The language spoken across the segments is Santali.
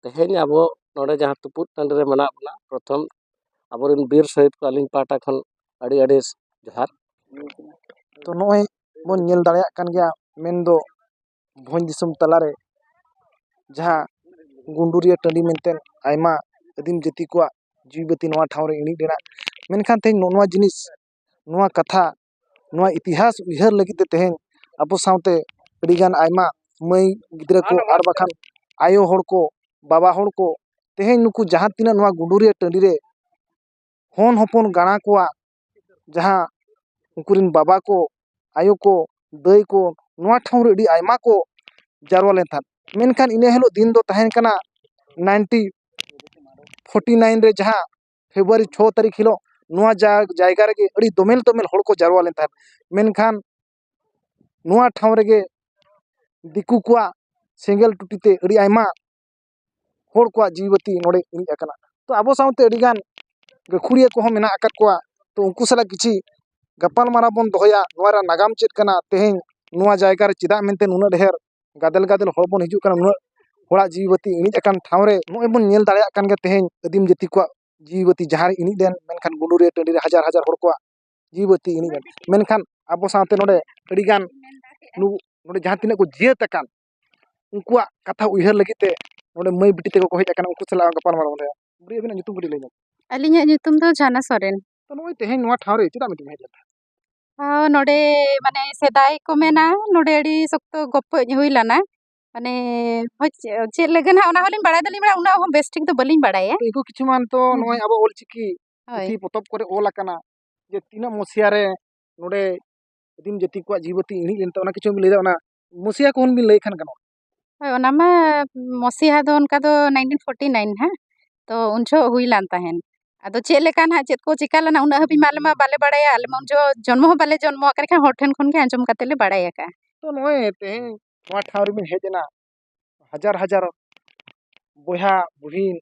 ᱛᱮᱦᱮᱧ ᱟᱵᱚ ᱱᱚᱰᱮ ᱡᱟᱦᱟᱸ ᱛᱩᱯᱩᱫ ᱴᱟᱺᱰᱤ ᱨᱮ ᱢᱮᱱᱟᱜ ᱵᱚᱱᱟ ᱯᱨᱚᱛᱷᱚᱢ ᱟᱵᱚ ᱨᱮᱱ ᱵᱤᱨ ᱥᱚᱦᱤᱫ ᱠᱚ ᱟᱹᱞᱤᱧ ᱯᱟᱦᱴᱟ ᱠᱷᱚᱱ ᱟᱹᱰᱤ ᱟᱹᱰᱤ ᱡᱚᱦᱟᱨ ᱛᱚ ᱱᱚᱜᱼᱚᱭ ᱵᱚᱱ ᱧᱮᱞ ᱫᱟᱲᱮᱭᱟᱜ ᱠᱟᱱ ᱜᱮᱭᱟ ᱢᱮᱱ ᱫᱚ ᱵᱷᱚᱸᱡᱽ ᱫᱤᱥᱚᱢ ᱛᱟᱞᱟ ᱨᱮ ᱡᱟᱦᱟᱸ ᱜᱩᱰᱩᱨᱤᱭᱟᱹ ᱴᱟᱺᱰᱤ ᱢᱮᱱᱛᱮ ᱟᱭᱢᱟ ᱟᱹᱫᱤᱢ ᱡᱟᱹᱛᱤ ᱠᱚᱣᱟᱜ ᱡᱤᱣᱤ ᱵᱟᱹᱛᱤ ᱱᱚᱣᱟ ᱴᱷᱟᱶ ᱨᱮ ᱤᱬᱤᱡ ᱞᱮᱱᱟ ᱢᱮᱱᱠᱷᱟᱱ ᱛᱮᱦᱮᱧ ᱱᱚᱜᱼᱚ ᱱᱚᱣᱟ ᱡᱤᱱᱤᱥ ᱱᱚᱣᱟ ᱠᱟᱛᱷᱟ ᱱᱚᱣᱟ ᱤᱛᱤᱦᱟᱥ ᱩᱭᱦᱟᱹᱨ ᱞᱟᱹᱜᱤᱫ ᱛᱮ ᱛᱮᱦᱮᱧ ᱟᱵᱚ ᱥᱟᱶᱛᱮ ᱟᱹᱰᱤ ᱜᱟᱱ ᱟᱭᱢᱟ ᱢᱟᱹᱭ ᱜᱤᱫᱽᱨᱟᱹ ᱠᱚ ᱟᱨ ᱵᱟᱝᱠᱷᱟᱱ ᱟᱭᱳ ᱦᱚᱲ ᱠᱚ ᱵᱟᱵᱟ ᱦᱚᱲ ᱠᱚ ᱛᱮᱦᱮᱧ ᱱᱩᱠᱩ ᱡᱟᱦᱟᱸ ᱛᱤᱱᱟᱹᱜ ᱱᱚᱣᱟ ᱜᱩᱰᱩᱨᱤᱭᱟᱹ ᱴᱟᱺᱰᱤ ᱨᱮ ᱦᱚᱱ ᱦᱚᱯᱚᱱ ᱜᱟᱬᱟ ᱠᱚᱣᱟᱜ ᱡᱟᱦᱟᱸ ᱩᱱᱠᱩ ᱨᱮᱱ ᱵᱟᱵᱟ ᱠᱚ ᱟᱭᱳ ᱠᱚ ᱫᱟᱹᱭ ᱠᱚ ᱱᱚᱣᱟ ᱴᱷᱟᱶ ᱨᱮ ᱟᱹᱰᱤ ᱟᱭᱢᱟ ᱠᱚ ᱡᱟᱨᱣᱟ ᱞᱮᱱ ᱛᱟᱦᱮᱸᱫ ᱢᱮᱱᱠᱷᱟᱱ ᱤᱱᱟᱹ ᱦᱤᱞᱳᱜ ᱫᱤᱱ ᱫᱚ ᱛᱟᱦᱮᱸ ᱠᱟᱱᱟ ᱱᱟᱭᱤᱱᱴᱤ ᱯᱷᱳᱨᱴᱤ ᱱᱟᱭᱤᱱ ᱨᱮ ᱡᱟᱦᱟᱸ ᱯᱷᱮᱵᱽᱨᱩᱣᱟᱨᱤ ᱪᱷᱚ ᱛᱟᱹᱨᱤᱠᱷ ᱦᱤᱞᱳᱜ ᱱᱚᱣᱟ ᱡᱟᱭᱜᱟ ᱨᱮᱜᱮ ᱟᱹᱰᱤ ᱫᱳᱢᱮᱞ ᱫᱳᱢᱮᱞ ᱦᱚᱲ ᱠᱚ ᱡᱟᱨᱣᱟ ᱞᱮᱱ ᱛᱟᱦᱮᱸᱫ ᱢᱮᱱᱠᱷᱟᱱ ᱱᱚᱣᱟ ᱴᱷᱟᱶ ᱨᱮᱜᱮ ᱫᱤᱠᱩ ᱠᱚᱣᱟᱜ ᱥᱮᱸᱜᱮᱞ ᱴᱩᱴᱤ ᱛᱮ ᱟᱹᱰᱤ ᱟᱭᱢᱟ ᱦᱚᱲ ᱠᱚᱣᱟᱜ ᱡᱤᱣᱤ ᱵᱟᱹᱛᱤ ᱱᱚᱰᱮ ᱤᱬᱤᱡ ᱟᱠᱟᱱᱟ ᱛᱚ ᱟᱵᱚ ᱥᱟᱶᱛᱮ ᱟᱹᱰᱤ ᱜᱟᱱ ᱜᱟᱹᱠᱷᱩᱲᱤᱭᱟᱹ ᱠᱚᱦᱚᱸ ᱢᱮᱱᱟᱜ ᱟᱠᱟᱫ ᱠᱚᱣᱟ ᱛᱚ ᱩᱱᱠᱩ ᱥᱟᱞᱟᱜ ᱠᱤᱪᱷᱤ ᱜᱟᱯᱟᱞᱢᱟᱨᱟᱣ ᱵᱚᱱ ᱫᱚᱦᱚᱭᱟ ᱱᱚᱣᱟ ᱨᱮᱭᱟᱜ ᱱᱟᱜᱟᱢ ᱪᱮᱫ ᱠᱟᱱᱟ ᱛᱮᱦᱮᱧ ᱱᱚᱣᱟ ᱡᱟᱭᱜᱟ ᱨᱮ ᱪᱮᱫᱟᱜ ᱢᱮᱱᱛᱮ ᱱᱩᱱᱟᱹᱜ ᱰᱷᱮᱨ ᱜᱟᱫᱮᱞ ᱜᱟᱫᱮᱞ ᱦᱚᱲ ᱵᱚᱱ ᱦᱤᱡᱩᱜ ᱠᱟᱱᱟ ᱩᱱᱟᱹᱜ ᱦᱚᱲᱟᱜ ᱡᱤᱣᱤ ᱵᱟᱹᱛᱤ ᱤᱬᱤᱡ ᱟᱠᱟᱱ ᱴᱷᱟᱶ ᱨᱮ ᱱᱚᱜᱼᱚᱭ ᱵᱚᱱ ᱧᱮᱞ ᱫᱟᱲᱮᱭᱟᱜ ᱠᱟᱱ ᱜᱮᱭᱟ ᱛᱮᱦᱮᱧ ᱟᱹᱫᱤᱢ ᱡᱟᱹᱛᱤ ᱠᱚᱣᱟᱜ ᱡᱤᱣᱤ ᱵᱟᱹᱛᱤ ᱡᱟᱦᱟᱸ ᱨᱮ ᱤᱬᱤᱡ ᱞᱮᱱ ᱢᱮᱱᱠᱷᱟᱱ ᱜᱩᱰᱩ ᱨᱤᱭᱟᱹ ᱴᱟᱺᱰᱤ ᱨᱮ ᱦᱟᱡᱟᱨ ᱦᱟᱡᱟᱨ ᱦᱚᱲ ᱠᱚᱣᱟᱜ ᱡᱤᱣᱤ ᱵᱟᱹᱛᱤ ᱤᱬᱤᱡ ᱮᱱᱟ ᱢᱮᱱᱠᱷᱟᱱ ᱟᱵᱚ ᱥᱟᱶᱛᱮ ᱱᱚᱰᱮ ᱟᱹᱰᱤ ᱜᱟᱱ ᱱᱩᱠᱩ ᱱᱚᱰᱮ ᱡᱟᱦᱟᱸ ᱛᱤᱱᱟᱹᱜ ᱠᱚ ᱡᱤᱭᱟᱹᱛ ᱟᱠᱟᱱ ᱩᱱᱠᱩᱣᱟᱜ ᱠᱟᱛᱷᱟ ᱩᱭᱦᱟᱹᱨ ᱞᱟᱹᱜᱤᱫ ᱛᱮ ᱱᱚᱰᱮ ᱢᱟᱹᱭ ᱵᱤᱴᱤ ᱛᱟᱠᱚ ᱠᱚ ᱦᱮᱡ ᱟᱠᱟᱱᱟ ᱩᱱᱠᱩ ᱥᱟᱞᱟᱜ ᱦᱚᱸ ᱜᱟᱯᱟᱞᱢᱟᱨᱟᱣ ᱵᱚᱱ ᱫᱚᱦᱚᱭᱟ ᱵᱩᱰᱤ ᱟᱹᱵᱤᱱᱟᱜ ᱧᱩᱛᱩᱢ ᱠᱟᱹᱴᱤᱡ ᱞᱟᱹᱭ ᱧᱚᱜᱽ ᱵᱤᱱ ᱟᱹᱞᱤᱧᱟᱜ ᱧᱩᱛᱩᱢ ᱫᱚ ᱡᱷᱟᱱᱟ ᱥᱚᱨᱮᱱ ᱛᱚ ᱱᱚᱜᱼᱚᱭ ᱛᱮᱦᱮᱧ ᱱᱚᱣᱟ ᱴᱷᱟᱶ ᱨᱮ ᱪᱮᱫᱟᱜ ᱵᱤᱱ ᱦᱮᱡ ᱞᱮᱱᱟ ᱦᱮᱸ ᱱᱚᱸᱰᱮ ᱢᱟᱱᱮ ᱥᱮᱫᱟᱭ ᱠᱚ ᱢᱮᱱᱟ ᱱᱚᱸᱰᱮ ᱟᱹᱰᱤ ᱥᱚᱠᱛᱚ ᱜᱚᱯᱚᱡ ᱦᱩᱭ ᱞᱮᱱᱟ ᱢᱟᱱᱮ ᱦᱳᱭ ᱪᱮᱫ ᱞᱟᱹᱜᱤᱫ ᱱᱟᱦᱟᱜ ᱚᱱᱟ ᱦᱚᱸᱞᱤᱧ ᱵᱟᱲᱟᱭ ᱫᱚᱞᱤᱧ ᱵᱟᱲᱟᱭᱟ ᱩᱱᱟᱹᱜ ᱦᱚᱸ ᱵᱮᱥ ᱴᱷᱤᱠ ᱫᱚ ᱵᱟᱹᱞᱤᱧ ᱵᱟᱲᱟᱭᱟ ᱩᱱᱠᱩ ᱠᱤᱪᱷᱩ ᱢᱟᱱ ᱛᱚ ᱦᱮᱸ ᱱᱚᱜᱼᱚᱭ ᱟᱵᱚ ᱚᱞ ᱪᱤᱠᱤ ᱦᱳᱭ ᱯᱩᱛᱷᱤ ᱯᱚᱛᱚᱵ ᱠᱚᱨᱮ ᱚᱞ ᱟᱠᱟᱱᱟ ᱡᱮ ᱛᱤᱱᱟᱹᱜ ᱢᱚᱥᱤᱭᱟ ᱨᱮ ᱱᱚᱸᱰᱮ ᱟᱹᱫᱤᱢ ᱡᱟᱹᱛᱤ ᱠᱚᱣᱟᱜ ᱡᱤᱣᱤ ᱵᱟᱹᱛᱤ ᱤᱬᱤᱡ ᱞᱮᱱ ᱛᱮ ᱚᱱᱟ ᱠᱤᱪᱷᱩᱢ ᱞᱟᱹᱭ ᱫᱟᱲᱮᱭᱟᱜᱼᱟ ᱚᱱᱟ ᱢᱚᱥᱤᱭᱟ ᱠᱚᱦᱚᱸ ᱵᱤᱱ ᱞᱟᱹᱭ ᱠᱷᱟᱱ ᱜᱟᱱᱚᱜᱼᱟ ᱦᱳᱭ ᱚᱱᱟ ᱢᱟ ᱢᱚᱥᱤᱦᱟ ᱫᱚ ᱚᱱᱠᱟ ᱫᱚ ᱱᱟᱭᱤᱱᱴᱤᱱ ᱯᱷᱳᱨᱴᱤ ᱱᱟᱭᱤᱱ ᱦᱟᱸᱜ ᱛᱚ ᱩᱱ ᱡᱚᱦᱚᱜ ᱦᱩᱭ ᱞᱮᱱ ᱛᱟᱦᱮᱱ ᱟᱫᱚ ᱪᱮᱫ ᱞᱮᱠᱟ ᱦᱟᱸᱜ ᱪᱮᱫ ᱠᱚ ᱪᱤᱠᱟᱹ ᱞᱮᱱᱟ ᱩᱱᱟᱹᱜ ᱦᱟᱹᱵᱤᱡ ᱢᱟ ᱟᱞᱮ ᱢᱟ ᱵᱟᱞᱮ ᱵᱟᱲᱟᱭᱟ ᱟᱞᱮ ᱢᱟ ᱩᱱ ᱡᱚᱦᱚᱜ ᱡᱚᱱᱢᱚ ᱦᱚᱸ ᱵᱟᱞᱮ ᱡᱚᱱᱢᱚ ᱟᱠᱟᱱᱟ ᱮᱱᱠᱷᱟᱱ ᱦᱚᱲ ᱴᱷᱮᱱ ᱠᱷᱚᱱ ᱜᱮ ᱟᱸᱡᱚᱢ ᱠᱟᱛᱮᱫ ᱞᱮ ᱵᱟᱲᱟᱭ ᱟᱠᱟᱫᱼᱟ ᱛᱚ ᱱᱚᱜᱼᱚᱭ ᱛᱮᱦᱮᱧ ᱱᱚᱣᱟ ᱴᱷᱟᱶ ᱨᱮᱵᱤᱱ ᱦᱮᱡ ᱮᱱᱟ ᱦᱟᱡᱟᱨ ᱦᱟᱡᱟᱨ ᱵᱚᱭᱦᱟ ᱵᱩᱦᱤᱱ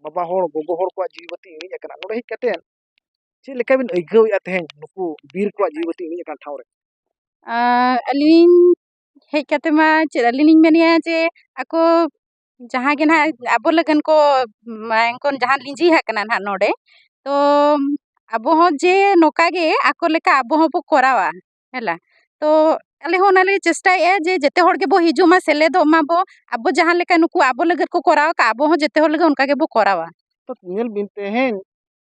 ᱵᱟᱵᱟ ᱦᱚᱲ ᱜᱚᱜᱚ ᱦᱚᱲ ᱠᱚᱣᱟᱜ ᱡᱤᱣᱤ ᱵᱟᱹᱛᱤ ᱤᱬᱤᱡ ᱟᱠᱟᱱᱟ ᱱᱚᱰᱮ ᱦᱮᱡ ᱠᱟᱛᱮᱫ ᱪᱮᱫ ᱞᱮᱠᱟ ᱵᱤᱱ ᱟᱹᱭᱠᱟᱹᱣᱮᱫᱼᱟ ᱛᱮᱦᱮᱧ ᱱᱩᱠᱩ ᱵᱤᱨ ᱠᱚᱣᱟᱜ ᱡᱤᱣᱤ ᱵᱟᱹᱛᱤ ᱤᱬᱤᱡ ᱟᱠᱟᱱ ᱴᱷᱟᱶ ᱨᱮ ᱟᱹᱞᱤᱧ ᱦᱮᱡ ᱠᱟᱛᱮ ᱢᱟ ᱪᱮᱫ ᱟᱹᱞᱤᱧ ᱞᱤᱧ ᱢᱮᱱᱮᱜᱼᱟ ᱡᱮ ᱟᱠᱚ ᱡᱟᱦᱟᱸ ᱜᱮ ᱱᱟᱦᱟᱜ ᱟᱵᱚ ᱞᱟᱹᱜᱤᱫ ᱠᱚ ᱢᱟᱭᱟᱝ ᱠᱚ ᱡᱟᱦᱟᱸ ᱞᱤᱸᱡᱤ ᱟᱠᱟᱱᱟ ᱠᱟᱱᱟ ᱱᱟᱦᱟᱜ ᱱᱚᱰᱮ ᱛᱚ ᱟᱵᱚ ᱦᱚᱸ ᱡᱮ ᱱᱚᱝᱠᱟ ᱜᱮ ᱟᱠᱚ ᱞᱮᱠᱟ ᱟᱵᱚ ᱦᱚᱸᱵᱚ ᱠᱚᱨᱟᱣᱟ ᱦᱮᱞᱟ ᱛᱚ ᱟᱞᱮ ᱦᱚᱸ ᱚᱱᱟᱞᱮ ᱪᱮᱥᱴᱟᱭᱮᱜᱼᱟ ᱡᱮ ᱡᱮᱛᱮ ᱦᱚᱲ ᱜᱮᱵᱚ ᱦᱤᱡᱩᱜ ᱢᱟ ᱥᱮᱞᱮᱫᱚᱜ ᱢᱟᱵᱚ ᱟᱵᱚ ᱡᱟᱦᱟᱸ ᱞᱮᱠᱟ ᱱᱩᱠᱩ ᱟᱵᱚ ᱞᱟᱹᱜᱤᱫ ᱠᱚ ᱠᱚᱨᱟᱣ ᱠᱟᱜᱼᱟ ᱟᱵᱚ ᱦᱚᱸ ᱡᱮᱛᱮ ᱦᱚᱲ ᱞᱟᱹᱜᱤᱫ ᱚᱱᱠᱟ ᱜᱮᱵᱚ ᱠᱚᱨᱟᱣᱟ ᱛᱚ ᱧᱮᱞ ᱵᱤᱱ ᱛᱮᱦᱮᱧ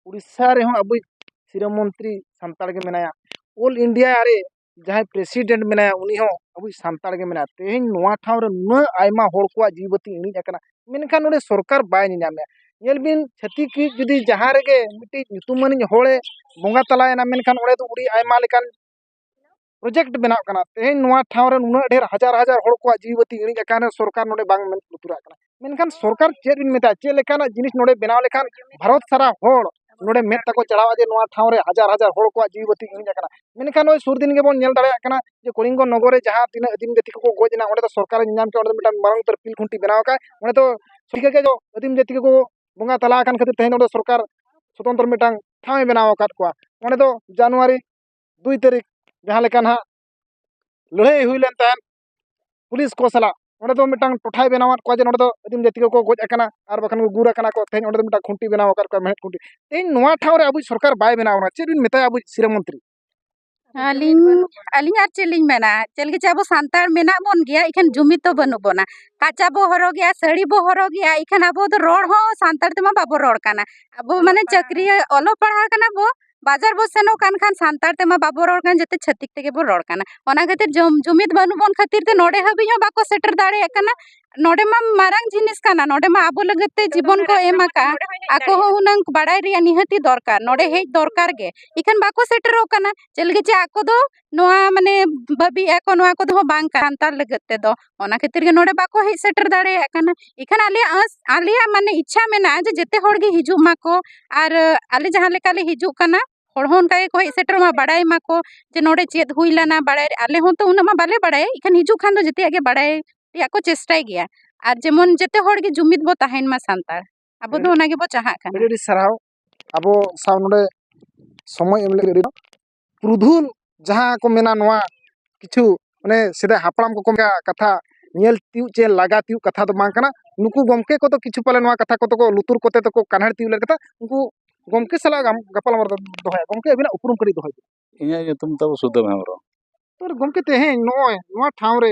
ᱳᱰᱤᱥᱟ ᱨᱮᱦᱚᱸ ᱟᱵᱚᱭᱤᱡ ᱥᱤᱨᱟᱹ ᱢᱚᱱᱛᱨᱤ ᱥᱟᱱᱛᱟᱲ ᱜᱮ ᱢᱮᱱᱟᱭᱟ ᱚᱞ ᱤᱱᱰᱤᱭᱟ ᱨᱮ ᱡᱟᱦᱟᱸᱭ ᱯᱨᱮᱥᱤᱰᱮᱱᱴ ᱢᱮᱱᱟᱭᱟ ᱩᱱᱤ ᱦᱚᱸ ᱟᱵᱚᱭᱤᱡ ᱥᱟᱱᱛᱟᱲ ᱜᱮ ᱢᱮᱱᱟᱭᱟ ᱛᱮᱦᱮᱧ ᱱᱚᱣᱟ ᱴᱷᱟᱶ ᱨᱮ ᱱᱩᱱᱟᱹᱜ ᱟᱭᱢᱟ ᱦᱚᱲ ᱠᱚᱣᱟᱜ ᱡᱤᱣᱤ ᱵᱟᱹᱛᱤ ᱤᱬᱤᱡ ᱟᱠᱟᱱᱟ ᱢᱮᱱᱠᱷᱟᱱ ᱱᱚᱰᱮ ᱥᱚᱨᱠᱟᱨ ᱵᱟᱭ ᱧᱮᱞ ᱧᱟᱢᱮᱜᱼᱟ ᱧᱮᱞ ᱵᱤᱱ ᱪᱷᱟᱹᱛᱤᱠ ᱤᱡ ᱡᱩᱫᱤ ᱡᱟᱦᱟᱸ ᱨᱮᱜᱮ ᱢᱤᱫᱴᱤᱡ ᱧᱩᱛᱩᱢᱟᱱᱤᱡ ᱦᱚᱲᱮ ᱵᱚᱸᱜᱟ ᱛᱟᱞᱟᱭᱮᱱᱟ ᱢᱮᱱᱠᱷᱟᱱ ᱚᱸᱰᱮ ᱫᱚ ᱟᱹᱰᱤ ᱟᱭᱢᱟ ᱞᱮᱠᱟᱱ ᱯᱨᱚᱡᱮᱠᱴ ᱵᱮᱱᱟᱜ ᱠᱟᱱᱟ ᱛᱮᱦᱮᱧ ᱱᱚᱣᱟ ᱴᱷᱟᱶ ᱨᱮ ᱱᱩᱱᱟᱹᱜ ᱰᱷᱮᱨ ᱦᱟᱡᱟᱨ ᱦᱟᱡᱟᱨ ᱦᱚᱲ ᱠᱚᱣᱟᱜ ᱡᱤᱣᱤ ᱵᱟᱹᱛᱤ ᱤᱬᱤᱡ ᱟᱠᱟᱱ ᱨᱮᱦᱚᱸ ᱥᱚᱨᱠᱟᱨ ᱱᱚᱰᱮ ᱵᱟᱝ ᱢᱮᱫ ᱞᱩᱛᱩᱨᱟᱜ ᱠᱟᱱᱟ ᱢᱮᱱᱠᱷᱟᱱ ᱥᱚᱨᱠᱟᱨ ᱪᱮᱫ ᱵᱤᱱ ᱢᱮᱛᱟᱭᱟ ᱪᱮᱫ ᱞᱮᱠᱟᱱᱟᱜ ᱡᱤᱱᱤᱥ ᱱᱚᱰᱮ ᱵᱮᱱᱟᱣ ᱞᱮᱠᱷᱟᱱ ᱵᱷᱟᱨᱚᱛ ᱥᱟᱨᱟ ᱦᱚᱲ ᱱᱚᱰᱮ ᱢᱮᱫ ᱛᱟᱠᱚ ᱪᱟᱲᱦᱟᱜᱼᱟ ᱡᱮ ᱱᱚᱣᱟ ᱴᱷᱟᱶ ᱨᱮ ᱦᱟᱡᱟᱨ ᱦᱟᱡᱟᱨ ᱦᱚᱲ ᱠᱚᱣᱟᱜ ᱡᱤᱣᱤ ᱵᱟᱹᱛᱤ ᱤᱬᱤᱡ ᱟᱠᱟᱱᱟ ᱢᱮᱱᱠᱷᱟᱱ ᱱᱚᱜᱼᱚᱭ ᱥᱩᱨ ᱫᱤᱱ ᱜᱮᱵᱚᱱ ᱧᱮᱞ ᱫᱟᱲᱮᱭᱟᱜ ᱠᱟᱱᱟ ᱡᱮ ᱠᱚᱞᱤᱝᱜᱚ ᱱᱚᱜᱚᱨ ᱨᱮ ᱡᱟᱦᱟᱸ ᱛᱤᱱᱟᱹᱜ ᱟᱹᱫᱤᱢ ᱡᱟᱹᱛᱤ ᱠᱚᱠᱚ ᱜᱚᱡ ᱮᱱᱟ ᱚᱸᱰᱮ ᱫᱚ ᱥᱚᱨᱠᱟᱨ ᱮ ᱧᱮᱞᱧᱟᱢ ᱠᱮᱫᱟ ᱚᱸᱰᱮ ᱫᱚ ᱢᱤᱫᱴᱟᱝ ᱢᱟᱨᱟᱝ ᱩᱛᱟᱹᱨ ᱯᱤᱞ ᱠᱷᱩᱱᱴᱤ ᱵᱮᱱᱟᱣ ᱟᱠᱟᱫ ᱟᱭ ᱚᱸᱰᱮ ᱫᱚ ᱴᱷᱤᱠᱟᱹ ᱠᱮᱫ ᱫᱚ ᱟᱹᱫᱤᱢ ᱡᱟᱹᱛᱤ ᱠᱚᱠᱚ ᱵᱚᱸᱜᱟ ᱛᱟᱞᱟ ᱟᱠᱟᱱ ᱠᱷᱟᱹᱛᱤᱨ ᱛᱮᱦᱮᱧ ᱚᱸᱰᱮ ᱥᱚᱨᱠᱟᱨ ᱥᱚᱛᱚᱱᱛᱨᱚ ᱢᱤᱫᱴᱟᱝ ᱴᱷᱟᱶ ᱮ ᱵᱮᱱᱟᱣ ᱟᱠᱟᱫ ᱠᱚᱣᱟ ᱚᱸᱰᱮ ᱫᱚ ᱡᱟᱱᱩᱣᱟᱨᱤ ᱫᱩᱭ ᱛᱟᱹᱨᱤᱠᱷ ᱡᱟᱦᱟᱸ ᱞᱮᱠᱟ ᱱᱟᱦᱟᱜ ᱞᱟᱹᱲᱦᱟᱹᱭ ᱦᱩᱭ ᱞᱮᱱ ᱛᱟᱦᱮᱸᱫ ᱯᱩᱞᱤᱥ ᱠᱚ ᱥᱟᱞᱟᱜ ᱚᱸᱰᱮ ᱫᱚ ᱢᱤᱫᱴᱟᱝ ᱴᱚᱴᱷᱟᱭ ᱵᱮᱱᱟᱣᱟᱫ ᱠᱚᱣᱟ ᱡᱮ ᱱᱚᱸᱰᱮ ᱫᱚ ᱟᱹᱫᱤᱢ ᱡᱟᱹᱛᱤ ᱠᱚᱠᱚ ᱜᱚᱡ ᱟᱠᱟᱱᱟ ᱟᱨ ᱵᱟᱠᱷᱟᱱ ᱠᱚ ᱜᱩᱨ ᱟᱠᱟᱱᱟ ᱠᱚ ᱛᱮᱦᱮᱧ ᱚᱸᱰᱮ ᱫᱚ ᱢᱤᱫᱴᱟᱝ ᱠᱷᱩᱱᱴᱤ ᱵᱮᱱᱟᱣ ᱟᱠᱟᱫ ᱠᱚᱣᱟᱭ ᱢᱮᱬᱦᱮᱫ ᱠᱷᱩᱱᱴᱤ ᱛᱮᱦᱮᱧ ᱱᱚᱣᱟ ᱴᱷᱟᱶ ᱨᱮ ᱟᱵᱚᱭᱤᱡ ᱥᱚᱨᱠᱟᱨ ᱵᱟᱭ ᱵᱮᱱᱟᱣ ᱟᱠᱟᱱᱟ ᱪᱮᱫ ᱵᱤᱱ ᱢᱮᱛᱟᱭᱟ ᱟᱵᱚᱭᱤᱡ ᱥᱤᱨᱟᱹ ᱢᱚᱱᱛᱨᱤ ᱟᱹᱞᱤᱧ ᱟᱹᱞᱤᱧ ᱟᱨ ᱪᱮᱫ ᱞᱤᱧ ᱢᱮᱱᱟ ᱪᱮᱫ ᱞᱟᱹᱜᱤᱫ ᱪᱚ ᱟᱵᱚ ᱥᱟᱱᱛᱟᱲ ᱢᱮᱱᱟᱜ ᱵᱚᱱ ᱜᱮᱭᱟ ᱤᱠᱷᱟᱹᱱ ᱡᱩᱢᱤᱫ ᱫᱚ ᱵᱟᱹᱱᱩᱜ ᱵᱚᱱᱟ ᱠᱟᱪᱟ ᱵᱚ ᱦᱚᱨᱚᱜᱮᱜᱼᱟ ᱥᱟᱹᱲᱤ ᱵᱚ ᱦᱚᱨᱚᱜᱮᱜᱼᱟ ᱤᱠᱷᱟᱹᱱ ᱟᱵᱚ ᱫᱚ ᱨᱚᱲ ᱦᱚᱸ ᱥᱟᱱᱛᱟᱲ ᱛᱮᱢᱟ ᱵᱟᱵᱚ ᱨᱚᱲ ᱠᱟᱱᱟ ᱟᱵᱚ ᱢᱟᱱᱮ ᱪᱟᱹᱠᱨᱤ ᱚᱞᱚᱜ ᱯᱟᱲᱦᱟᱣ ᱠᱟᱱᱟ ᱵᱚ ᱵᱟᱡᱟᱨ ᱵᱚᱱ ᱥᱮᱱᱚᱜ ᱠᱟᱱ ᱠᱷᱟᱱ ᱥᱟᱱᱛᱟᱲ ᱛᱮᱢᱟ ᱵᱟᱵᱚᱱ ᱨᱚᱲ ᱠᱟᱱ ᱡᱚᱛᱚ ᱪᱷᱟᱹᱛᱤᱠ ᱛᱮᱜᱮ ᱵᱚᱱ ᱨᱚᱲ ᱠᱟᱱᱟ ᱚᱱᱟ ᱠᱷᱟᱹᱛᱤᱨ ᱡᱩᱢᱤᱫ ᱵᱟᱹᱱᱩᱜ ᱵᱚᱱ ᱠᱷᱟᱹᱛᱤᱨ ᱛᱮ ᱱᱚᱰᱮ ᱦᱟᱹᱵᱤᱡ ᱦᱚᱸ ᱵᱟᱠᱚ ᱥᱮᱴᱮᱨ ᱫᱟᱲᱮᱭᱟᱜ ᱠᱟᱱᱟ ᱱᱚᱰᱮ ᱢᱟ ᱢᱟᱨᱟᱝ ᱡᱤᱱᱤᱥ ᱠᱟᱱᱟ ᱱᱚᱰᱮ ᱢᱟ ᱟᱵᱚ ᱞᱟᱹᱜᱤᱫ ᱛᱮ ᱡᱤᱵᱚᱱ ᱠᱚ ᱮᱢ ᱟᱠᱟᱫᱼᱟ ᱟᱠᱚ ᱦᱚᱸ ᱦᱩᱱᱟᱹᱝ ᱵᱟᱲᱟᱭ ᱨᱮᱭᱟᱜ ᱱᱤᱦᱟᱹᱛᱤ ᱫᱚᱨᱠᱟᱨ ᱱᱚᱰᱮ ᱦᱮᱡ ᱫᱚᱨᱠᱟᱨ ᱜᱮ ᱤᱠᱷᱟᱹᱱ ᱵᱟᱠᱚ ᱥᱮᱴᱮᱨᱚᱜ ᱠᱟᱱᱟ ᱪᱮᱫ ᱞᱟᱹᱜᱤᱫ ᱪᱚ ᱟᱠᱚ ᱫᱚ ᱱᱚᱣᱟ ᱢᱟᱱᱮ ᱵᱷᱟᱹᱵᱤᱭᱮᱫ ᱟᱠᱚ ᱱᱚᱣᱟ ᱠᱚᱫᱚ ᱵᱟᱝ ᱠᱟᱱᱟ ᱥᱟᱱᱛᱟᱲ ᱞᱟᱹᱜᱤᱫ ᱛᱮᱫᱚ ᱚᱱᱟ ᱠᱷᱟᱹᱛᱤᱨ ᱜᱮ ᱱᱚᱰᱮ ᱵᱟᱠᱚ ᱦᱮᱡ ᱥᱮᱴᱮᱨ ᱫᱟᱲᱮᱭᱟᱜ ᱠᱟᱱᱟ ᱮᱱᱠᱷᱟᱱ ᱟᱞᱮᱭᱟᱜ ᱟᱸᱥ ᱟᱞᱮᱭᱟᱜ ᱢᱟᱱᱮ ᱤᱪᱪᱷᱟ ᱢᱮᱱᱟᱜᱼᱟ ᱡᱮ ᱡᱮᱛᱮ ᱦᱚᱲ ᱜᱮ ᱦᱤᱡᱩᱜ ᱢᱟᱠᱚ ᱟᱨ ᱟᱞᱮ ᱡᱟᱦᱟᱸ ᱞᱮᱠᱟ ᱞᱮ ᱦᱤᱡᱩᱜ ᱠᱟᱱᱟ ᱦᱚᱲ ᱦᱚᱸ ᱚᱱᱠᱟ ᱜᱮᱠᱚ ᱦᱮᱡ ᱥᱮᱴᱮᱨᱚᱜ ᱢᱟ ᱵᱟᱲᱟᱭ ᱢᱟᱠᱚ ᱡᱮ ᱱᱚᱰᱮ ᱪᱮᱫ ᱦᱩᱭ ᱞᱮᱱᱟ ᱵᱟᱲᱟᱭ ᱟᱞᱮ ᱦᱚᱸᱛᱚ ᱩᱱᱟᱹᱜ ᱢᱟ ᱵᱟᱞᱮ ᱵᱟᱲᱟᱭ ᱮᱱᱠᱷᱟᱱ ᱦᱤᱡᱩᱜ ᱠᱷᱟᱱ ᱫᱚ ᱡᱮᱛᱮᱭᱟᱜ ᱜᱮ ᱵᱟᱲᱟᱭ ᱨᱮᱭᱟᱜ ᱠᱚ ᱪᱮᱥᱴᱟᱭ ᱜᱮᱭᱟ ᱟᱨ ᱡᱮᱢᱚᱱ ᱡᱮᱛᱮ ᱦᱚᱲ ᱜᱮ ᱡᱩᱢᱤᱫ ᱵᱚ ᱛᱟᱦᱮᱱ ᱢᱟ ᱥᱟᱱᱛᱟᱲ ᱟᱵᱚ ᱫᱚ ᱚᱱᱟ ᱜᱮᱵᱚ ᱪᱟᱦᱟᱜ ᱠᱟᱱᱟ ᱟᱹᱰᱤ ᱟᱹᱰᱤ ᱥᱟᱨᱦᱟᱣ ᱟᱵᱚ ᱥᱟᱶ ᱱᱚᱰᱮ ᱥᱚᱢᱚᱭ ᱮᱢ ᱞᱟᱹᱜᱤᱫ ᱯᱩᱨᱩᱫᱷᱩᱞ ᱡᱟᱦᱟᱸ ᱠᱚ ᱢᱮᱱᱟ ᱱᱚᱣᱟ ᱠᱤᱪᱷᱩ ᱚᱱᱮ ᱥᱮᱫᱟᱭ ᱦᱟᱯᱲᱟᱢ ᱠᱚᱠᱚ ᱢᱮᱱᱟ ᱠᱟᱛᱷᱟ ᱧᱮᱞ ᱛᱤᱭᱳᱜ ᱪᱮ ᱞᱟᱜᱟ ᱛᱤᱭᱳᱜ ᱠᱟᱛᱷᱟ ᱫᱚ ᱵᱟᱝ ᱠᱟᱱᱟ ᱱᱩᱠᱩ ᱜᱚᱢᱠᱮ ᱠᱚᱫᱚ ᱠᱤᱪᱷᱩ ᱯᱟᱞᱮ ᱱᱚᱣᱟ ᱠᱟᱛᱷᱟ ᱠᱚᱫᱚ ᱠᱚ ᱞᱩᱛᱩᱨ ᱠᱚᱛᱮ ᱫᱚᱠᱚ ᱠᱟᱱᱦᱮᱲ ᱛᱤᱭᱳᱜ ᱞᱮᱫ ᱠᱟᱛᱷᱟ ᱩᱱᱠᱩ ᱜᱚᱢᱠᱮ ᱥᱟᱞᱟᱜ ᱜᱟᱯᱟᱞ ᱢᱟᱨᱟᱣ ᱫᱚᱧ ᱫᱚᱦᱚᱭᱟ ᱜᱚᱢᱠᱮ ᱟᱹᱵᱤᱱᱟᱜ ᱩᱯᱨᱩᱢ ᱠᱟᱹᱴᱤᱡ ᱫᱚᱦᱚᱭ ᱵᱤᱱ ᱤᱧᱟᱹᱜ ᱧᱩᱛᱩᱢ ᱛᱟᱵᱚ ᱥᱩᱫᱟᱹᱢ ᱦᱮᱢᱵᱨᱚᱢ ᱛᱚ ᱜᱚᱢᱠᱮ ᱛᱮᱦᱮᱧ ᱱᱚᱜᱼᱚᱭ ᱱᱚᱣᱟ ᱴᱷᱟᱶ ᱨᱮ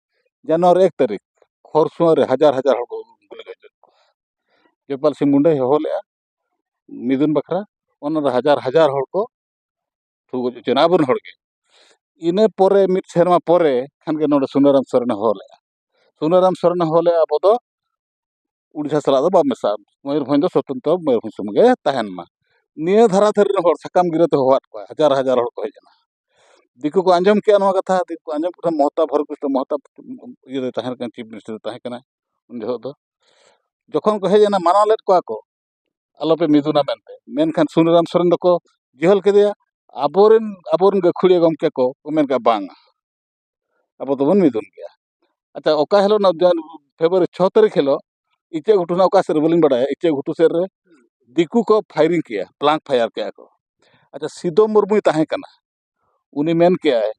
ᱡᱟᱱᱩᱣᱟᱨᱤ ᱮᱠ ᱛᱟᱹᱨᱤᱠᱷ ᱠᱷᱚᱨᱥᱚᱶᱟ ᱨᱮ ᱦᱟᱡᱟᱨ ᱦᱟᱡᱟᱨ ᱦᱚᱲ ᱠᱚ ᱜᱩᱞᱤ ᱜᱚᱡ ᱞᱮᱫ ᱠᱚᱣᱟ ᱡᱚᱭᱯᱟᱞ ᱥᱤᱝ ᱢᱩᱱᱰᱟᱹᱭ ᱦᱚᱦᱚ ᱞᱮᱫᱼᱟ ᱢᱤᱫᱩᱱ ᱵᱟᱠᱷᱨᱟ ᱚᱱᱟ ᱨᱮ ᱦᱟᱡᱟᱨ ᱦᱟᱡᱟᱨ ᱦᱚᱲ ᱠᱚ ᱴᱷᱩ ᱜᱚᱡ ᱦᱚᱪᱚᱭᱮᱱᱟ ᱟᱵᱚᱨᱮᱱ ᱦᱚᱲ ᱜᱮ ᱤᱱᱟᱹ ᱯᱚᱨᱮ ᱢᱤᱫ ᱥᱮᱨᱢᱟ ᱯᱚᱨᱮ ᱠᱷᱟᱱ ᱜᱮ ᱱᱚᱰᱮ ᱥᱩᱱᱟᱹᱨᱟᱢ ᱥᱚᱨᱮᱱᱮ ᱦᱚᱦᱚ ᱞᱮᱫᱼᱟ ᱥᱩᱱᱟᱹᱨᱟᱢ ᱥᱚᱨᱮᱱᱮ ᱦᱚᱦᱚ ᱞᱮᱫᱼᱟ ᱟᱵᱚ ᱫᱚ ᱩᱲᱤᱥᱥᱟ ᱥᱟᱞᱟᱜ ᱫᱚ ᱵᱟᱢ ᱢᱮᱥᱟᱜᱼᱟ ᱢᱚᱭᱩᱨᱵᱷᱚᱸᱡᱽ ᱫᱚ ᱥᱚᱛᱚᱱᱛᱨᱚ ᱢᱚᱭᱩᱨᱵᱷᱚᱸᱡᱽ ᱥᱩᱢᱩᱝ ᱜᱮ ᱛᱟᱦᱮᱱ ᱢᱟ ᱱᱤᱭᱟᱹ ᱫᱷᱟᱨᱟ ᱫᱷᱟᱨᱮ ᱨᱮᱱ ᱦᱚᱲ ᱥᱟᱠᱟᱢ ᱜᱤᱨᱟᱹ ᱛᱮ ᱦᱚᱦᱚᱣᱟᱫ ᱠᱚᱣᱟᱭ ᱦᱟᱡᱟᱨ ᱦᱟᱡᱟᱨ ᱦᱚᱲ ᱠᱚ ᱦᱮᱡ ᱮᱱᱟ ᱫᱤᱠᱩ ᱠᱚ ᱟᱸᱡᱚᱢ ᱠᱮᱜᱼᱟ ᱱᱚᱣᱟ ᱠᱟᱛᱷᱟ ᱫᱤᱠᱩ ᱠᱚ ᱟᱸᱡᱚᱢ ᱠᱮᱜ ᱠᱷᱟᱱ ᱢᱚᱦᱚᱛᱟᱵᱽ ᱦᱚᱨᱤ ᱠᱨᱤᱥᱱᱚ ᱢᱚᱦᱚᱛᱟᱵᱽ ᱤᱭᱟᱹ ᱨᱮ ᱛᱟᱦᱮᱸ ᱠᱟᱱᱟᱭ ᱪᱤᱯ ᱢᱤᱱᱤᱥᱴᱟᱨᱮ ᱛᱟᱦᱮᱸ ᱠᱟᱱᱟᱭ ᱩᱱ ᱡᱚᱦᱚᱜ ᱫᱚ ᱡᱚᱠᱷᱚᱱ ᱠᱚ ᱦᱮᱡ ᱮᱱᱟ ᱢᱟᱱᱟᱣ ᱞᱮᱫ ᱠᱚᱣᱟ ᱠᱚ ᱟᱞᱚ ᱯᱮ ᱢᱤᱫᱩᱱᱟ ᱢᱮᱱᱛᱮ ᱢᱮᱱᱠᱷᱟᱱ ᱥᱩᱱᱟᱹᱨᱟᱢ ᱥᱚᱨᱮᱱ ᱫᱚᱠᱚ ᱡᱮᱦᱚᱞ ᱠᱮᱫᱮᱭᱟ ᱟᱵᱚ ᱨᱮᱱ ᱟᱵᱚ ᱨᱮᱱ ᱜᱟᱹᱠᱷᱩᱲᱤᱭᱟᱹ ᱜᱚᱢᱠᱮ ᱠᱚ ᱢᱮᱱ ᱠᱮᱜᱼᱟ ᱵᱟᱝᱟ ᱟᱵᱚ ᱫᱚᱵᱚᱱ ᱢᱤᱫᱩᱱ ᱜᱮᱭᱟ ᱟᱪᱪᱷᱟ ᱚᱠᱟ ᱦᱤᱞᱳᱜ ᱚᱱᱟ ᱯᱷᱮᱵᱽᱨᱩᱣᱟᱨᱤ ᱪᱷᱚ ᱛᱟᱹᱨᱤᱠᱷ ᱦᱤᱞᱳᱜ ᱤᱪᱟᱹᱜ ᱜᱷᱩᱴᱩ ᱨᱮᱱᱟᱜ ᱚᱠᱟ ᱥᱮᱫ ᱨᱮ ᱵᱟᱹᱞᱤᱧ ᱵᱟᱰᱟᱭᱟ ᱤᱪᱟᱹᱜ ᱜᱷᱩᱴᱩ ᱥᱮᱫ ᱨᱮ ᱫᱤᱠᱩ ᱠᱚ ᱯᱷᱟᱭᱨᱤᱝ ᱠᱮᱜᱼᱟ ᱵᱞᱟᱝᱠ ᱯᱷᱟᱭᱟᱨ ᱠᱮᱜᱼᱟ ᱠᱚ ᱟᱪᱪᱷᱟ ᱥᱤᱫᱩ ᱢᱩᱨᱢᱩᱭ ᱛᱟᱦᱮᱸ ᱠᱟᱱᱟ ᱩᱱᱤ ᱢᱮᱱ ᱠᱮᱜᱼᱟᱭ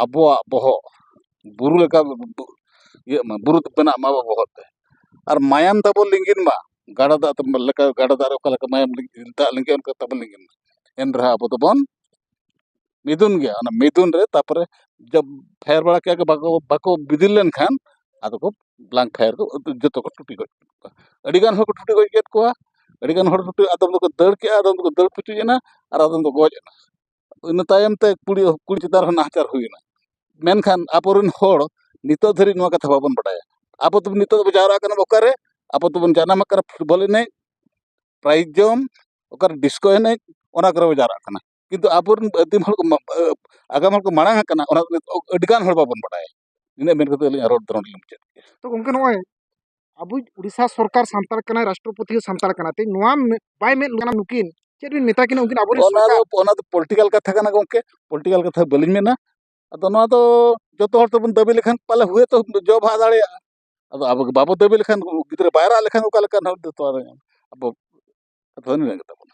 ᱟᱵᱚᱣᱟᱜ ᱵᱚᱦᱚᱜ ᱵᱩᱨᱩ ᱞᱮᱠᱟ ᱤᱭᱟᱹᱜ ᱢᱟ ᱵᱩᱨᱩ ᱵᱮᱱᱟᱜ ᱢᱟ ᱟᱵᱚᱣᱟᱜ ᱵᱚᱦᱚᱜ ᱛᱮ ᱟᱨ ᱢᱟᱭᱟᱢ ᱛᱟᱵᱚᱱ ᱞᱤᱸᱜᱤᱱ ᱢᱟ ᱜᱟᱰᱟ ᱫᱟᱜ ᱞᱮᱠᱟ ᱜᱟᱰᱟ ᱫᱟᱜ ᱨᱮ ᱚᱠᱟ ᱞᱮᱠᱟ ᱢᱟᱭᱟᱢ ᱫᱟᱜ ᱞᱤᱸᱜᱤᱜᱼᱟ ᱚᱱᱠᱟ ᱛᱟᱵᱚᱱ ᱞᱤᱸᱜᱤᱱ ᱢᱟ ᱮᱱ ᱨᱮᱦᱚᱸ ᱟᱵᱚ ᱫᱚᱵᱚᱱ ᱢᱤᱫᱩᱱ ᱜᱮᱭᱟ ᱚᱱᱟ ᱢᱤᱫᱩᱱ ᱨᱮ ᱛᱟᱨᱯᱚᱨᱮ ᱡᱚᱵᱽ ᱯᱷᱟᱭᱟᱨ ᱵᱟᱲᱟ ᱠᱮᱜᱼᱟ ᱠᱚ ᱵᱟᱠᱚ ᱵᱟᱠᱚ ᱵᱤᱫᱤᱞ ᱞᱮᱱᱠᱷᱟᱱ ᱟᱫᱚ ᱠᱚ ᱵᱞᱟᱝᱠ ᱯᱷᱟᱭᱟᱨ ᱠᱚ ᱡᱚᱛᱚ ᱠᱚ ᱴᱩᱴᱤ ᱜᱚᱡ ᱠᱮᱜ ᱠᱚᱣᱟ ᱟᱹᱰᱤ ᱜᱟᱱ ᱦᱚᱲ ᱠᱚ ᱴᱩᱴᱤ ᱜᱚᱡ ᱠᱮᱜ ᱠᱚᱣᱟ ᱟᱹᱰᱤ ᱜᱟᱱ ᱦᱚᱲ ᱴᱩᱴᱤ ᱟᱫᱚᱢ ᱫᱚᱠᱚ ᱫᱟᱹᱲ ᱠᱮᱜᱼᱟ ᱟᱫᱚᱢ ᱫᱚᱠᱚ ᱫᱟᱹᱲ ᱯᱩᱪᱩᱡ ᱮᱱᱟ ᱟᱨ ᱟᱫᱚᱢ ᱫᱚᱠᱚ ᱜᱚᱡ ᱮᱱᱟ ᱤᱱᱟᱹ ᱛᱟᱭᱚᱢ ᱛᱮ ᱠᱩᱲᱤ ᱠᱩᱲᱤ ᱪᱮᱛᱟᱱ ᱨᱮᱦᱚᱸ ᱱᱟᱦᱟᱪᱟᱨ ᱦᱩᱭᱮᱱᱟ ᱢᱮᱱᱠᱷᱟᱱ ᱟᱵᱚ ᱨᱮᱱ ᱦᱚᱲ ᱱᱤᱛᱚᱜ ᱫᱷᱟᱹᱨᱤᱡ ᱱᱚᱣᱟ ᱠᱟᱛᱷᱟ ᱵᱟᱵᱚᱱ ᱵᱟᱰᱟᱭᱟ ᱟᱵᱚ ᱫᱚ ᱱᱤᱛᱚᱜ ᱫᱚᱵᱚᱱ ᱡᱟᱣᱨᱟᱜ ᱠᱟᱱᱟ ᱵᱚᱱ ᱚᱠᱟᱨᱮ ᱟᱵᱚ ᱫᱚᱵᱚᱱ ᱡᱟᱱᱟᱢ ᱟᱠᱟᱱᱟ ᱯᱷᱩᱴᱵᱚᱞ ᱮᱱᱮᱡ ᱯᱨᱟᱭᱤᱡᱽ ᱡᱚᱢ ᱚᱠᱟᱨᱮ ᱰᱤᱥᱠᱳ ᱮᱱᱮᱡ ᱚᱱᱟ ᱠᱚᱨᱮ ᱵᱚᱱ ᱡᱟᱣᱨᱟᱜ ᱠᱟᱱᱟ ᱠᱤᱱᱛᱩ ᱟᱵᱚ ᱨᱮᱱ ᱟᱹᱫᱤᱢ ᱦᱚᱲ ᱠᱚ ᱟᱜᱟᱢ ᱦᱚᱲ ᱠᱚ ᱢᱟᱲᱟᱝ ᱟᱠᱟᱱᱟ ᱚᱱᱟ ᱠᱚ ᱱᱤᱛᱚᱜ ᱟᱹᱰᱤ ᱜᱟᱱ ᱦᱚᱲ ᱵᱟᱵᱚᱱ ᱵᱟᱲᱟᱭᱟ ᱤᱱᱟᱹ ᱢᱮᱱ ᱠᱟᱛᱮᱫ ᱟᱹᱞᱤᱧᱟᱜ ᱨᱚᱲ ᱫᱚ ᱱᱚᱰᱮ ᱞᱤᱧ ᱢᱩᱪᱟᱹᱫ ᱠᱮᱫᱼᱟ ᱛᱚ ᱜᱚᱢᱠᱮ ᱱᱚᱜᱼᱚᱭ ᱟᱵᱚᱭᱤᱡ ᱩᱲᱤᱥᱥᱟ ᱥᱚᱨᱠᱟᱨ ᱥᱟᱱᱛᱟᱲ ᱠᱟᱱᱟᱭ ᱨᱟᱥᱴᱨᱚᱯᱚᱛᱤ ᱦᱚᱸ ᱥᱟᱱᱛᱟᱲ ᱠᱟᱱᱟᱭ ᱛᱮᱦᱮᱧ ᱱᱚᱣᱟ ᱵᱟᱭ ᱢᱮᱫ ᱞᱩᱛᱩᱨ ᱱᱩᱠᱤᱱ ᱪᱮᱫ ᱵᱤᱱ ᱢᱮᱛᱟ ᱠᱤᱱᱟ ᱩᱱᱠᱤᱱ ᱟᱵᱚᱨᱮᱱ ᱚᱱᱟ ᱫᱚ ᱚᱱᱟ ᱫᱚ ᱯᱚᱞᱤᱴᱤᱠᱟᱞ ᱠᱟᱛᱷᱟ ᱠᱟᱱᱟ ᱜᱚᱢᱠᱮ ᱯᱚᱞᱤᱴᱤᱠᱟᱞ ᱠᱟᱛᱷᱟ ᱵᱟᱹᱞᱤᱧ ᱢᱮᱱᱟ ᱟᱫᱚ ᱱᱚᱣᱟ ᱫᱚ ᱡᱚᱛᱚ ᱦᱚᱲ ᱛᱮᱵᱚᱱ ᱫᱟᱹᱵᱤ ᱞᱮᱠᱷᱟᱱ ᱯᱟᱞᱮ ᱦᱩᱭ ᱛᱚ ᱡᱚ ᱵᱟᱦᱟ ᱫᱟᱲᱮᱭᱟᱜᱼᱟ ᱟᱫᱚ ᱟᱵᱚ ᱵᱟᱵᱚ ᱫᱟᱹᱵᱤ ᱞᱮᱠᱷᱟᱱ ᱜᱤᱫᱽᱨᱟᱹ ᱵᱟᱭ ᱨᱟᱜ ᱞᱮᱠᱷᱟᱱ ᱚᱠᱟ ᱞᱮᱠᱟ ᱱᱚᱣᱟ ᱫᱚ ᱛᱚᱣᱟ ᱫᱚ ᱧᱟᱢᱟ ᱟᱵᱚ ᱠᱟᱛᱷᱟ ᱫᱚ ᱱᱤᱱᱟᱹ ᱜᱮᱛᱟᱵᱚᱱᱟ